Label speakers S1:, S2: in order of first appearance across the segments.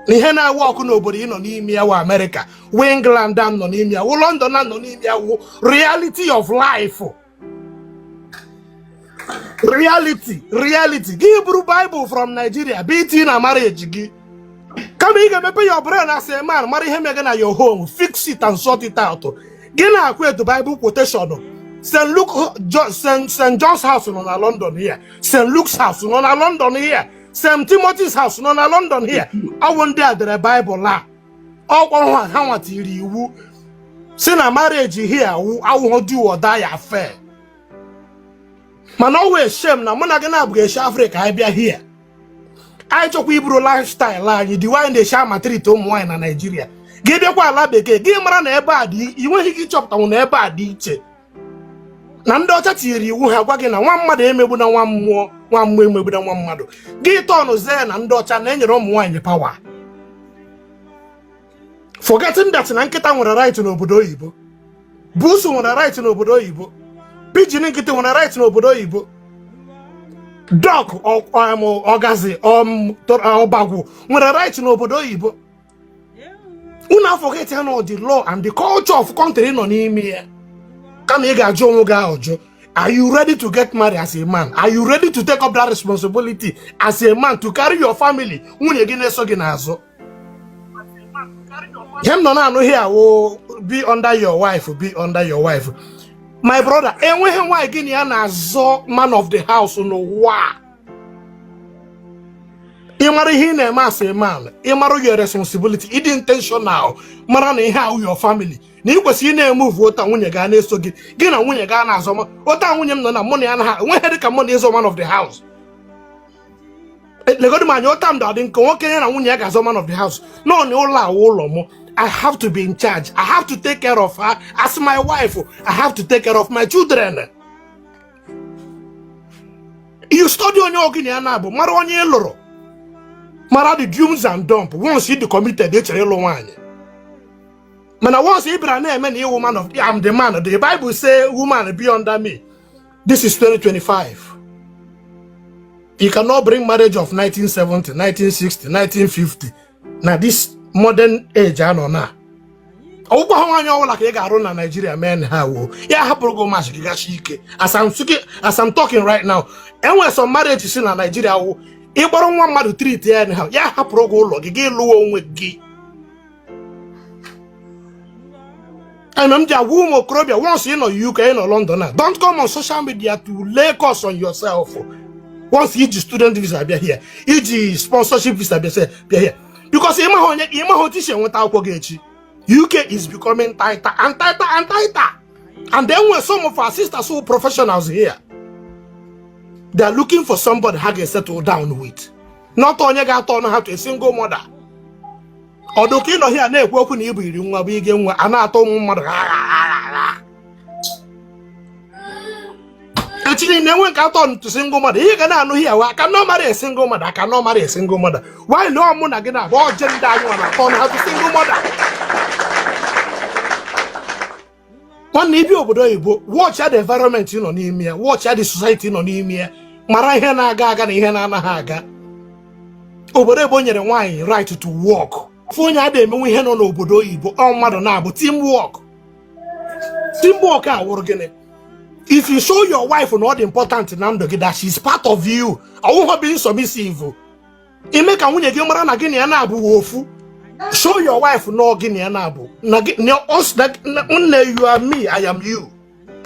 S1: na ihe na-awork n'obodo ị nọ n'ime ya wụ amerịka wụ england a nọ n'ime ya wụ london a nọ n'ime ya wụ reality of life reality gị buru bible from nigeria bata na marriage gị kama ị ga-emepe your brain as a man mara ihe mega na your home fix it and sort it out gị na-aquote bible quotation st luke st john's house nọ na london here st luke's house nọ na london here St. Timothy's House nọ na London here ọwụ ndị a dere Baịbụl a ọkwa ha ha nwa tiri iwu sị na marriage here awụ awụghọ do or die affair mana ọwụ a shame na mụ na gị na-abụghị eshi Afrịka anyị bịa here anyị chọkwa iburu lifestyle anyị dị wanyị na-eshi amaltreat ụmụ nwaanyị na Naịjirịa gị bịakwa ala bekee gị mara na ebe a dị ị nweghị ike ịchọpụtanwu na ebe a dị iche na ndị ọcha tiri iwu ha gwa gị na nwa mmadụ emegbuna nwa mmụọ nwa mmụọ emegbuna nwa mmadụ gị tọnụ zee na ndị ọcha na-enyere ụmụ nwaanyị power forgetting that na nkịta nwere right n'obodo oyibo busu nwere right n'obodo oyibo pigeon nkịtị nwere right n'obodo oyibo duck ọgazi ọbagwu nwere right n'obodo oyibo unu aforget ya na the law and the culture of country ị nọ n'ime ya kama ị ga-ajụ onwe gị ajụ are you ready to get married as a man are you ready to take up that responsibility as a man to carry your family nwunye gị na-eso gị n'azụ ihe m nọ na-anụ here wụ be under your wife be under your wife my brother enweghị nwaanyị gị na ya na-azọ man of the house n'ụwa ị mara ihe ị na-eme as a man ị mara your responsibility ị dị intentional mara na ihe a wụ your family na ị kwesịrị ị na-emove otu a nwunye gị ana-eso gị gị na nwunye gị ana-azọ ma otu a nwunye m nọ na mụ na ya na ha nweghị dị ka mụ na ịzọ man of the house E, legodu m anya otu a m dị nke nwoke ya na nwunye ya ga-azọ man of the house no na ụlọ a wụ ụlọ mụ I have to be in charge. I have to take care of her as my wife. I have to take care of my children. you study onye gị na ya na-abụ mara onye ị lụrụ mara the do's and don'ts once ị dị committed ị chọrọ ịlụ nwaanyị mana once ị bịara na-eme na ị wụ man of I'm the man the Bible say woman be under me this is 2025 you cannot bring marriage of 1970 1960 1950 na this modern age a nọ na ọ wụkwaha nwaanyị ọbụla ka ị ga-alụ na Naijiria mee anyhow ya hapụrụ gị marriage gị gachi ike as I'm talking right now enwere some marriages na Naijiria wụ ị kpọrọ nwa mmadụ treat ya anyhow ya hapụrụ gị ụlọ gị gị lụwa onwe gị ana m ji agwa ụmụ okorobịa once ị nọ UK ị nọ London na don't come on social media to lay curse on yourself once i ji student visa bịa here i ji sponsorship visa bịa se- bịa here because ịmaghị onye ịmaghị otu i si enweta akwụkwọ gị echi UK is becoming tighter and tighter and tighter and then when some of our sisters who are professionals here they are looking for somebody ha ga-esettle down with not onye ga-aturn ha to a single mother ọ dị ka ị nọ here na-ekwu okwu na ịbụ iri nwa bụ ige nwa a na-atọ ụmụ mmadụ echi niile enwe nke aturn to single mother ị ga na-anọ here I cannot marry a single mother I cannot marry a single mother nwaanyị lụọ mụ na gị na-abụ ọje ndị anyị nwa na-aturn ha to single mother nwanne i bi obodo oyibo watch the environment ị nọ n'ime ya watch the society ị nọ n'ime ya mara ihe na-aga aga na ihe na-anaghị aga obodo ebe o nyere nwaanyị right to work ofu onye ada emenwe ihe nọ n'obodo oyibo ọ mmadụ nabụ team work team work a wụrụ gịnị if you show your wife na ọ dị important na ndụ gị that she is part of you ọ wụghọ being submissive i me ka nwunye gị mara na gị na ya nabụ wụ ofu show your wife na gị na ya nabụ na gị na us na na- nne you are me i am you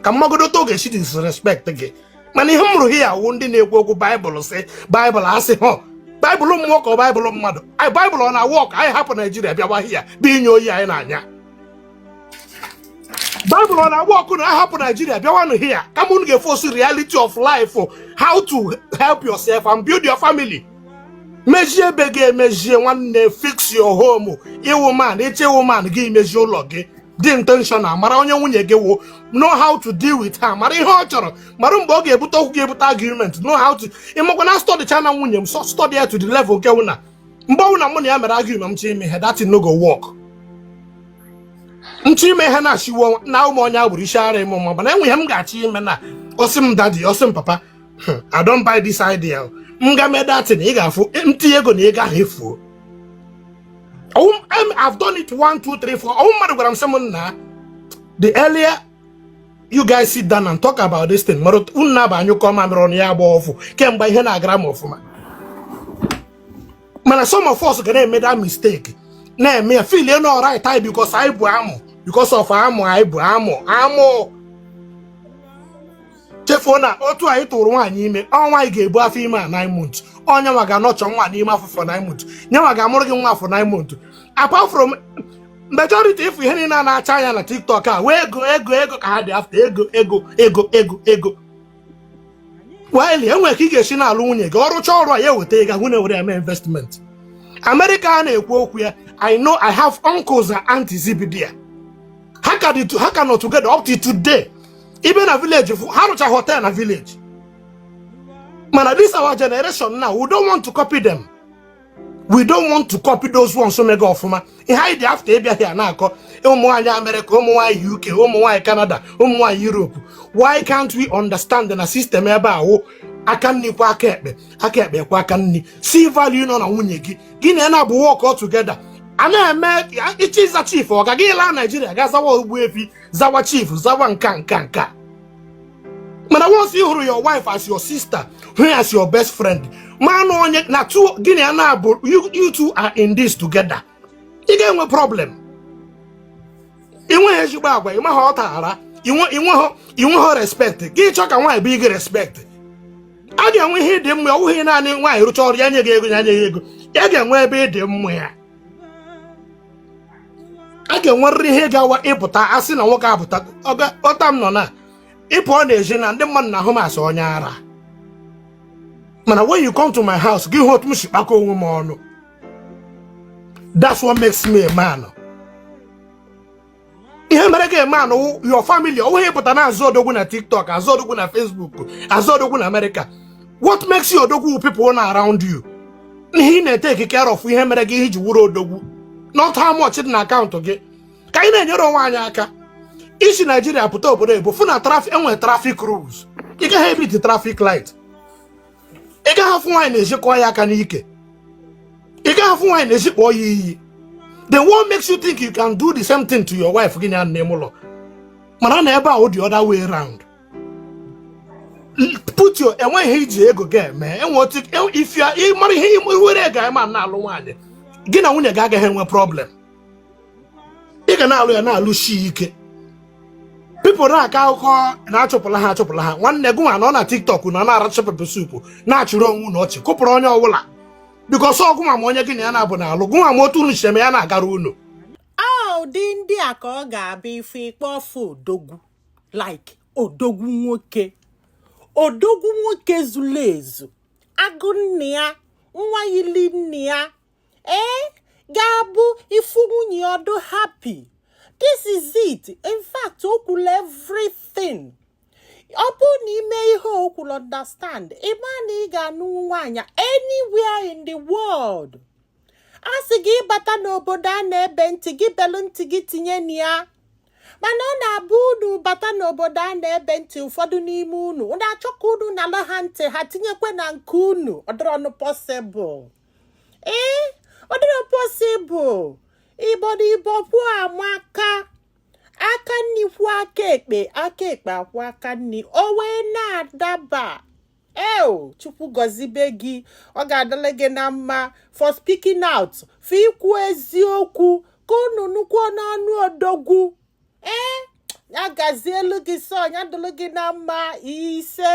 S1: ka m magodu otu ọ ga-esi disrespect gị mana ihe m hụrụ hia wụ ndị na-ekwu okwu baịbụl sị baịbụl asị ọ baịbụl mmụọ ka ọ baịbụl mmadụ anyị baịbụl ọ na-awork anyị hapụ naijiria bịawa hia bịa ịnya oyi anyị na-anya Bible ọ na-awork unu ahapụ Nigeria bịawanụ here kama unu ga-eface reality of life how to help yourself and build your family mejie be gị mejie nwanne fix your home ị wụ man ị chọọ ịwụ man gị mejie ụlọ gị dị intentional mara onye nwunye gị wụ know how to deal with her mara ihe ọ chọrọ mara mgbe ọ ga-ebute okwu ga-ebute argument know how to ị makwa na studychaana nwunye m study ya to the level nke wụ na mgbe ọbụla mụ na ya mere argument m chọọ ime ihe that no go work m chọọ ime ihe na-achịwo na ụmụ onye agbụrụ isi ara ime ma mana e nwee ihe m ga-achọ ime na ọ sị m daddy ọ sị m papa hmm, I don't buy this idea m gaa mee that thing ị ga-afụ m tinye ego na ego ahụ efuo I've done it one, two, three, four. Oh, my God, I'm someone now. The earlier you guys sit down and talk about this thing mara unu nabụ anyụkọ mamịrị ọnụ ya agba ọfụ kemgbe ihe na-agara m ọfụma mana some of us ga na-eme that mistake na-eme ya feel na ọ right anyị because anyị bu amụ because of amụ anyị bu amụ amụ chefuo na otu ị tụrụ nwaanyị ime ọ nwaanyị ga-ebu afọ ime a nine months ọ nya nwa ga-anurture nwa n'ime afọ for nine months nya nwa ga-amụrụ gị nwa after nine months apart from majority ịfụ ihe niile a na-acha anya na tiktok ọ wụ ego ego ego ka ha dị after ego ego ego ego ego while e nwere ka ị ga-esi na-alụ nwunye gị ọ rụcha ọrụ a ya eweta ego ahụ na-ewere ya mee investment amerịka a na-ekwu okwu ya i know i have uncles and aunties bi there ha ka dị to- ha ka nọ together up to today ị bịa na village ha rụcha hotel na village mana this our generation now we don't want to copy them we don't want to copy those ones mega ọfụma ihe anyị dị after ịbịa here na-akọ ụmụ nwaanyị amerịka ụmụ nwaanyị uk ụmụ nwaanyị kanada ụmụ nwaanyị europe why can't we understand na system ebe ahụ aka nri kwọọ aka ekpe aka ekpe kwọọ aka nri see value nọ na nwunye gị gị na ya na-abụ work all together a na-eme iche ịza chief ọ ga gị laa naijiria ga zawa ogbuefi zawa chief zawa nka nka nka mana once you hụrụ your wife as your sister hụ as your best friend ma na onye na two gị na ya na-abụ you two are in this together ị ga-enwe problem ị nweghị ezigbo agwa ị maghị ọ tara ị nweghị respect gị chọọ ka nwaanyị bu gị respect a ga-enwe ihe ị dị mma ọ bụghị naanị nwaanyị rụcha ọrụ ya nye gị ego ya nye gị ego ya ga-enwe ebe ị dị mma ya a ga-enwerịrị ihe ga-awụ ị pụta a sị na nwoke apụta otu a m nọ na ị pụọ n'ezi na ndị mmadụ na-ahụ m as onye ara mana when you come to my house gị hụ otu m si kpakọ onwe m ọnụ that's what makes me a man ihe mere gị a man ọ your family ọ bụghị ịpụta na-aza odogwu na tiktok aza odogwu na facebook aza odogwu na amerịka what makes you odogwu people nọ around you ihe ị na-etake care of ihe mere gị ihe i ji wụrụ odogwu not how much dị na account gị ka anyị na-enyere onwe anyị aka i si naijiria pụta obodo oyibo fụ na traffic e nwere traffic rules ị gaghị ebeat traffic light ị gaghị afụ nwaanyị n'ezi kụọ ya aka n'ike ị gaghị afụ nwaanyị n'ezi kpọọ ya iyi then what makes you think you can do the same thing to your wife gị n'ime ụlọ mana na ebe a ọ the other way round put your enweghị ihe i ji ego gị eme e nwe otu e- if you are- ị mara ihe ị were guy man na-alụ nwaanyị gị na nwunye gị agaghị enwe problem ị ga na-alụ ya na-alụsi ike people na-akọ akụkọ na achụpụla ha achụpụla ha nwanne gị nwa nọ na tiktok na na-aracha pepper soup na-achịrị onwe unu ọchị kụpụrụ onye ọbụla because ọ gụ ma onye gị na ya na-abụ na-alụ gụ nwa ma otu unu si eme ya na-agara unu
S2: ụdị ndị a ka ọ ga-abịa ife ikpe ọfụ odogwu like odogwu nwoke odogwu nwoke zulu ezu agụ nne ya nwa yili nne ya ee ga-abụ ị fụ nwunye ọ dụ happy this is it in fact o kwulu everything ọ bụrụ na i me ihe o kwulu understand ị ma na ị ga-anụ nwaanyị anywhere in the world a sị gị ị bata n'obodo a na-ebe ntị gị belụ ntị gị tinye na ya mana ọ na-abụ unu bata n'obodo a na-ebe ntị ụfọdụ n'ime unu unu na-achọ ka unu nalụ ha ntị ha tinyekwa na nke unu ọ dịrọnụ possible ee ọ dịrọ possible ịbọ na ịbọ pụọ amaka aka nni kwọọ aka ekpe aka ekpe akwọọ aka nni o wee na-adaba eo chukwu gọzibe gị ọ ga-adịlụ gị na mma for speaking out for ikwu eziokwu ka unu nụkwuo n'ọnụ odogwu ee ya gazielu gị sọ ya dịlụ gị na mma ise